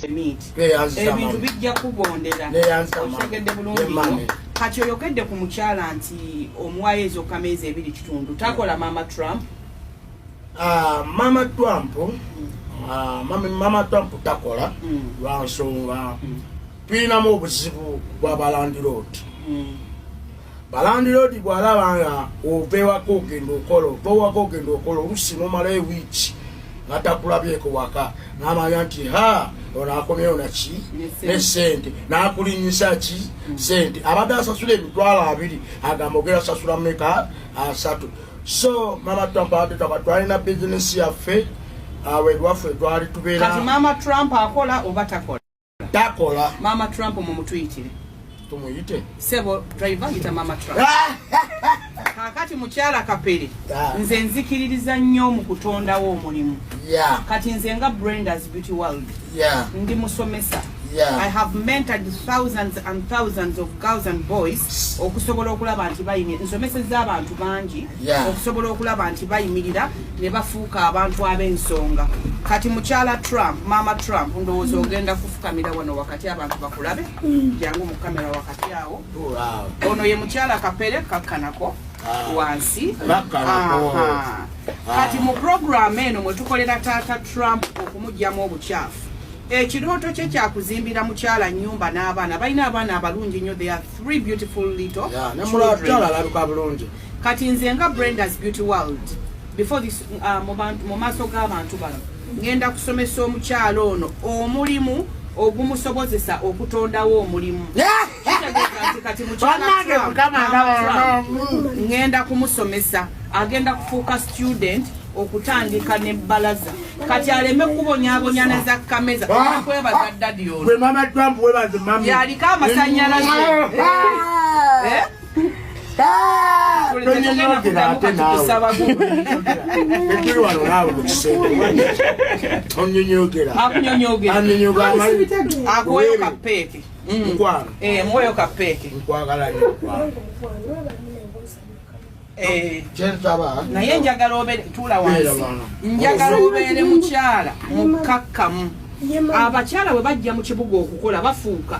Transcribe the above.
ebintu bijja kubondera okitegedde bulungi kati oyogedde ku mukyala nti omuwayo ezo kameezi ebiri kitundu takola mama trump ah, mama trump ah, mama trump takola mm. lwansonga mm. tulinamu obuzibu bwabalandiroodi mm. balandiroodi bwalaba nga opewako ogenda okola opewako ogenda okola olusi nomala ewiiki natakulabyeko waka namanya nti ha ono akomyewo naki nesente nakulinyisa ki sente abadde asasula emitwalo abiri agamba ogera sasula meka asatu so mama trump abadde twaba twalina bizinesi yaffe awe lwaffe twali tubeera kati mama trump akola oba takola takola mama trump mumutuyitire tumuyite sebo driver yita mama trump kakati mukyala kapere nze nzikiririza nnyo mu kutondawo omulimu kati nze nga brendas beauty world ndi musomesa Yeah. I have mentored thousands and thousands of girls and boys okusobola okulaba nti bayimye nsomeseza abantu bangi yeah. okusobola okulaba nti bayimirira ne bafuuka abantu ab'ensonga kati mukyala trump maama trump ndowooza ogenda kufukamira wano wakati abantu bakulabe mm. jangu mu kamera wakati awo ono ye mukyala kapere kakkanako ah. wansi kati mu programu eno mwe tukolera taata trump okumugyamu obukyafu ekirooto kye kyakuzimbira mukyala nyumba n'abaana balina abaana abalungi nnyo they are three beautiful little kati nze nga Brenda's Beauty World before this uh, mu maaso g'abantu bano ngenda kusomesa omukyalo ono omulimu ogumusobozesa okutondawo omulimu ngenda kumusomesa agenda kufuuka student okutandika ne balaza kati aleme kubonyabonya ne za kameza ah, kwebaza ah, dadi ono yaliko amasanyalaze ah, eh? naye njagala obetuula wansi njagala obeere mukyala mukkakkamu abakyala bwe bajja mu kibuga okukola bafuuka